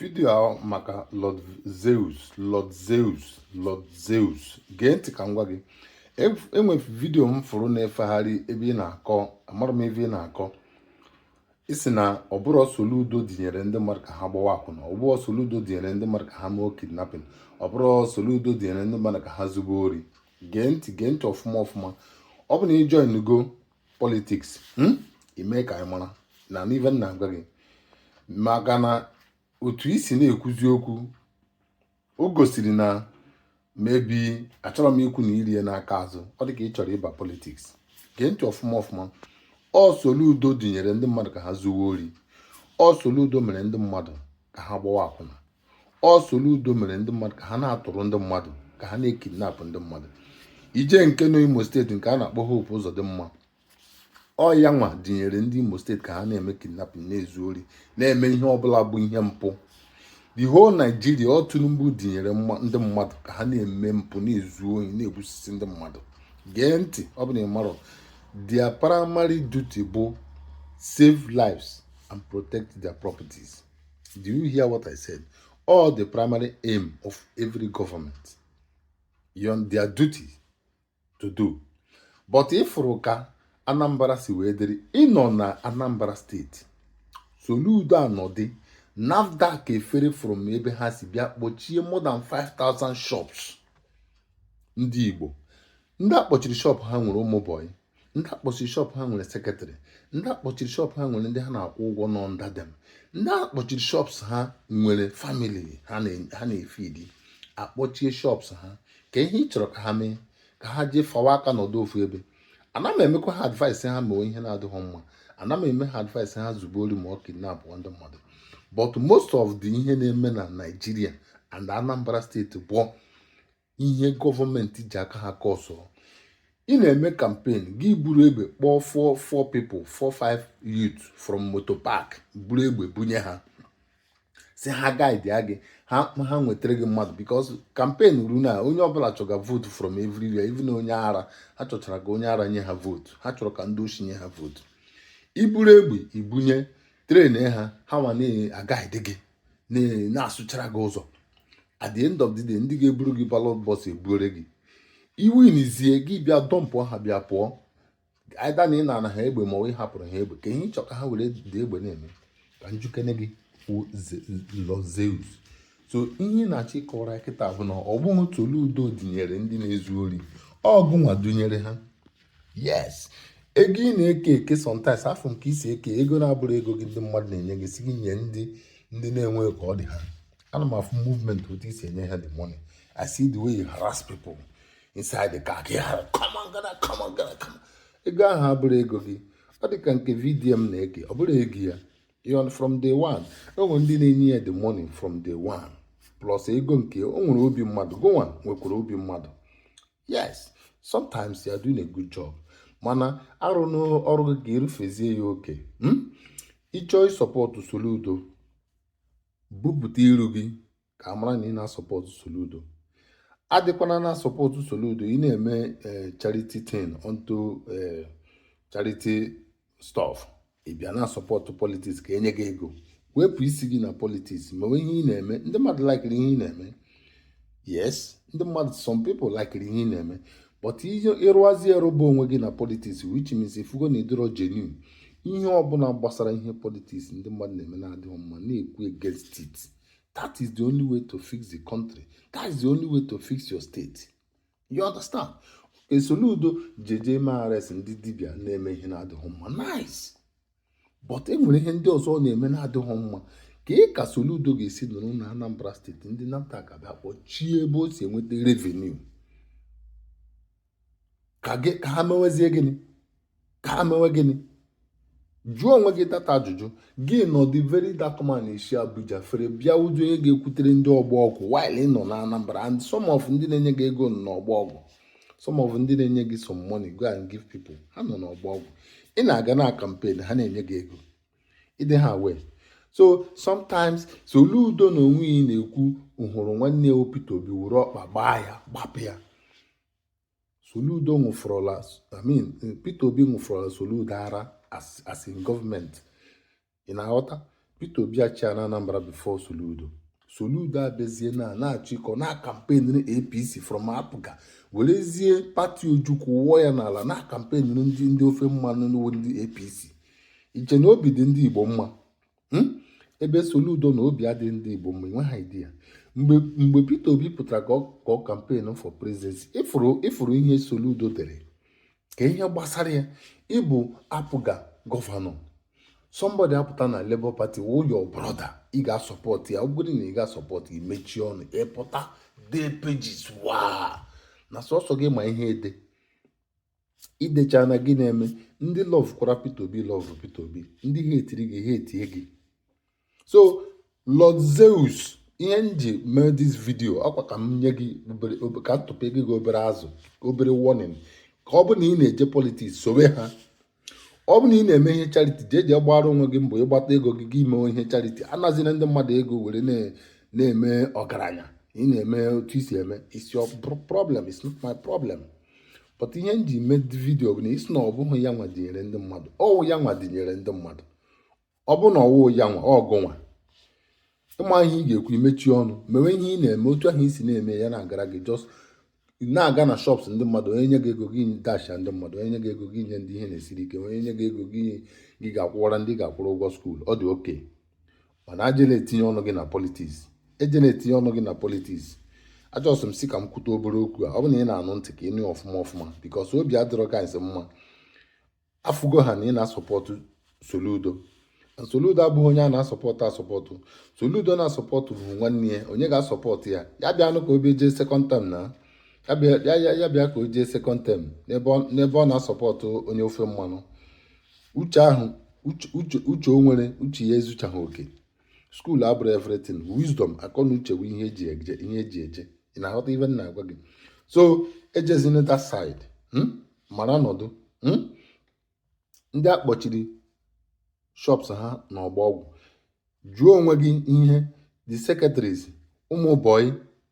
vidio ahụ maka Lord Zeus Lord Zeus Lord Zeus gee ntị ka m gwa gị enwe vidio m fụrụ na-efegharị ebe ị na-akọ amarọ m ive ị na-akọ ị si na ọ bụrọ Soludo dinyere ndị mmadụ ka ha gbawa akwụna ọ bụrọ Soludo dinyere ndị mmadụ ka ha mee kidnapping ọ bụrọ Soludo dinyere ndị mmadụ ka ha zube ori gee ntị gee ntị ọfụma ọfụma ọ bụ na ị joinugo politiks hmm? ime ka anyị mara na-anụ ive m na-agwa gị maka na otu i si na-ekwuzi okwu o gosiri na maybe achọrọ m ikwu na irie n'aka azụ ọ dị ka ị chọrọ ịba politiks gee ntị ọfụma ọfụma ọ Soludo dinyere ndị mmadụ ka ha zuwe ori ọ Soludo mere ndị mmadụ ka ha gbawa akwụna ọ Soludo mere ndị mmadụ ka ha na-atụrụ ndị mmadụ ka ha na-ekidnapụ ndị mmadụ i jee nke nọ Imo steeti nke a na-akpọ Hope Uzodimma ọ ya nwa dinyere ndị Imo steeti ka ha na-eme kidnapping na-ezu ori na-eme ihe ọbụla bụ ihe mpụ the whole Nigeria ọ Tinubu dinyere ndị mmadụ ka ha na-eme mpụ na-ezu ohi na-egbusisi ndị mmadụ gee ntị ọ bụ na ị marọ their primary duty bụ save lives and protect their properties. Do you hear what I said? Ọ the primary aim of every government, ọ their duty to do. But ị fụrụ ka Anambra si wee dịrị ị nọ na Anambra steeti Soludo anọdị NAFDAC efere from ebe ha si bịa kpọchie more than 5000 shops ndị Igbo ndị akpọchiri shop ha nwere ụmụ bọyị ndị akpọchiri shop ha nwere secretary ndị akpọchiri shop ha nwere ndị ha na-akwụ ụgwọ nọ under them ndị akpọchiri shops ha nwere family ha na-efidi akpọchie shops ha kee ihe ị chọrọ ka ha mee ka ha jee fawa aka nọdụ ofu ebe ana m emekwa ha advice ha mewe ihe na-adịghị mma ana m eme ha advice ha zube ori ma ọ kidnap ndị mmadụ but most of the ihe na-eme na Nigeria and Anambra steeti bụ ihe gọọmenti ji aka ha kọsọ ị na-eme kampen gị buru egbe kpọọ four four people four five youth from motor park buru egbe bunye ha sị ha gaidi gị ha ha nwetara gị mmadụ because kampen ruo na onye ọbụla chọga vootu from everywhere even onye ara ha chọchara ka onye ara nye ha vootu ha chọrọ ka ndị oshi nye ha vootu i buru egbe i bunye train ha ha nwa na-agaidi gị na-asụchara gị ụzọ at the end of the day ndị ga-eburu gị ballot box ebuore gị i winizie gị bịa dọmpụ ha bịa pụọ either na ị na-ana ha egbe ma ọ hapụrụ ha egbe kee ihe ị chọ ka ha were the egbe na-eme ka m jụkene gị Lord Zeus so ihe ị na-achọ ịkọwara kịta bụ na ọ bụrọ Soludo dinyere ndị na-ezu ori ọ gụ nwa dunyere ha yes ego ị na-eke eke sometimes afọ nke i si eke ego na-abụrọ ego gị ndị mmadụ na-enye gị sị gị nye ndị ndị na-enweghị ka ọ dị ha ana m afụ movement otu i si enye ha the money i see the way you harass people inside the car gị hara come on gana come on gana come on ego ahụ abụrọ ego gị ọ dị ka nke VDM na-eke ọ bụrọ ego ya own from day one e nwere ndị na-enye ya the money from day one plus ego nke o nwere obi mmadụ gịnwa nwekwara obi mmadụ yes sometimes you are doing a good job mana arụna ọrụ gị ka ị rụfezie ya oke hmm? ị chọọ ịsọpọtụ Soludo bupụta iru gị ka a mara na ị na-asọpọtụ Soludo adịkwana na-asọpọtụ Soludo ị na-eme eh, charity thing unto eh, charity stuff ị bịa na-asọpọtụ politiks ka e nye gị ego wepụ isi gị na politiks mewe ihe ị na-eme ndị mmadụ likiri ihe ị na-eme yes ndị mmadụ some people likiri ihe ị na-eme but ịrụazi erụba onwe gị na politiks which means ị fụgo na ị dịrọ genuine ihe ọbụla gbasara ihe politiks ndị mmadụ na-eme na-adịghị mma na-ekwu against it that is the only way to fix the country that is the only way to fix your state you understand okay soludo jeje mee arrest ndị dibịa na-eme ihe na-adịghị mma nice but e nwere ihe ndị ọzọ ọ na-eme na-adịghị mma kee ka soludo ga-esi nọrọ na anambra steeti ndị nafdac abịa kpọchie ebe o si enweta revenue ka ha mewezie gịnị ka ha mewe gịnị jụọ onwe gị that ajụjụ gị nọdụ Very Dark Man esi abuja fere bịa wụrụ onye ga-ekwutere ndị ọgbọ ọgwụ while ị nọ na anambra and some of ndị na-enye gị ego nọ n'ọgbọ ọgwụ some of ndị na-enye gị some money go and give people ha nọ n'ọgbọ ọgwụ ị na-aga na kampen ha na-enye gị ego ị dị aware so Soludo na onwe ya ị na-ekwu hụrụ nwanne ya Peter Obi were ọkpa gbaa ya gbapụ ya Soludo ṅụfọrọla I mean Peter Obi ṅụfọrọla Soludo ara as in gọọmenti ị na-aghọta Peter Obi achịana Anambra before Soludo Soludo abịazie na na-achọ ịkọ na-akampenịrị APC from APGA werezie pati Ojukwu wụọ ya n'ala na-akampenịrị ndị ndị ofe mmanụ ndị APC i che na obi dị ndị Igbo mma hmm? ebe Soludo nọ obi adịghị ndị Igbo mma enwe ha idea mgbe mgbe Peter Obi pụtara ka ọ kampen for presidency ị fụrụ ị fụrụ ihe Soludo dere ka ihe gbasara ya ị bụ APGA gọvanọ somebody apụta na Labour Party wụ your brother ị ga-asọpọtụ ya ọ bụrụ na ị ga-asọpọtụ gị mechie ọnụ ị pụta dee pages waa na sọsọ gị ma ihe ede idecha na gị na-eme ndị lọv kwara Peter Obi lọv Peter Obi ndị hetiri gị hetie gị so Lord Zeus ihe m ji mee dis vidio akwa ka m nye gị ka m tụpe gị obere azụ obere warning ka ọ bụ na ị na-eje politiks sowe ha ọ bụ na ị na-eme ihe chariti jee jee gbara onwe gị mbọ ị kpata ego gị gị mewe ihe chariti anazina ndị mmadụ ego were na-eme ọgaranya ị na-eme otu i si eme it's your problem it's not my problem but ihe m ji mee vidio bụ na ị sị na ọ bụghị ya nwa dinyere ndị mmadụ ọwụ ya nwa dinyere ndị mmadụ ọ bụ na ọwụ ya nwa ọ gụnwa ị ma ihe ị ga-ekwu i mechie ọnụ mewe ihe ị na-eme otu ahụ i si na-eme ya na-agara gị jọs na-aga na shọps ndị mmadụ onye nye gị ego gị dasha ndị mmadụ onye nye gị ego gị nye ndị ihe na-esiri ike onye nye gị ego gị gị ga-akwụwara ndị ga-akwụrụ ụgwọ skuul ọ dị oke mana ejela etinye ọnụ gị na politiks ejela etinye ọnụ gị na politiks ajọsọ m sị ka m kwute obere okwu a ọ bụ na ị na-anụ ntị ka ị nụ ọfụma ọfụma bikos obi adịrọ ka nsi mma afụgo ha na ị na-asọpọtụ Soludo Soludo abụghị onye a na-asọpọtụ asọpọtụ Soludo na-asọpọtụ bụ nwanne ya onye ga-asọpọtụ ya ya bịanụ ka obi jee sekọnd tem na ya bịa ka o jee sekọnd tem n'ebe ọ na-asọpọtụ onye ofe mmanụ uche ahụ uche uche o nwere uche ya ezuchaghị oke skuul abụrọ everything wisdom akọ na uche bụ ihe eji eje ihe eji eje ị na-aghọta ife m na-agwa gị so ejezina that side hmm? mara nọdụ hmm? ndị a kpọchiri shops ha na Ọgbọ Ọgwụ jụọ onwe gị ihe the secretaries ụmụ bọyị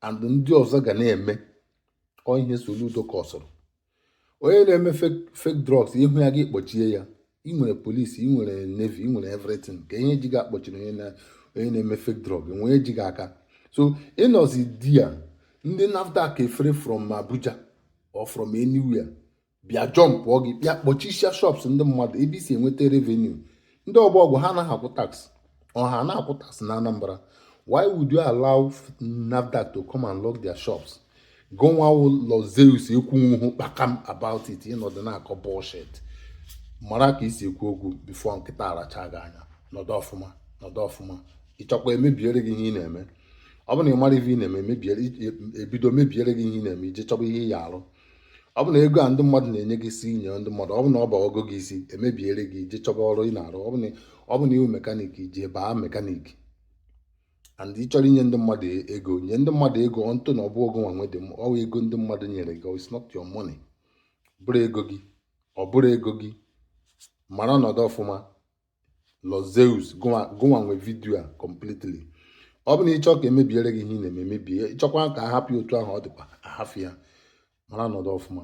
and ndị ọzọ ga na-eme ọ ihe Soludo kọsụrụ onye na-eme fake drugs ị hụ ya gị kpọchie ya ị nwere polisi ị nwere nevi ị nwere evritin ka ihe ji gị akpọchiri onye na-eme fake drug onye ji gị aka so ị nọzi dia ndị NAFDAC efere from Abuja or from anywhere bịa jọmpụọ gị bịa kpọchisia shops ndị mmadụ ebe i si enweta revenue ndị ọgbọ ọgwụ ha anaghị akwụ tax ọ ha na-akwụ tax na Anambra why would you allow NAFDAC to come and lock their shops gụnwa Lord Zeus ekwunwuhụ kpakam about it ị nọdụ na-akọ bullshit mara ka i si ekwu okwu bifo nkịta aracha gị anya nọdụ ọfụma nọdụ ọfụma ị chọkwa emebiere gị ihe ị na-eme ọ bụ na ị mara ife ị na-eme ebido mebiere gị ihe ị na-eme i je chọba ihe ị ya-arụ ọ bụ na ego a ndị mmadụ na-enye gị sị nye ndị mmadụ ọ bụ na ọ bawago gị isi emebiere gị i je chọba ọrụ ị na-arụ ọ bụ na ị wụ mekanik i je baa mekanik and ị chọrọ inye ndị mmadụ e, ego nye ndị mmadụ ego ntụ na ọ bụrọ gụnwa nwe dị ọ bụ ego ndị mmadụ nyere gị it's not your money bụrọ ego gị ọ bụrọ ego gị mara ọnọdụ ọfụma Lord Zeus gụnwa nwe vidio a completely ọ bụ na ị chọ ka emebiere gị ihe ị na-eme e mebie ị chọkwa ka a hapụ otu ahụ ọ dịkwa a hafụ ya mara nọdụ ọfụma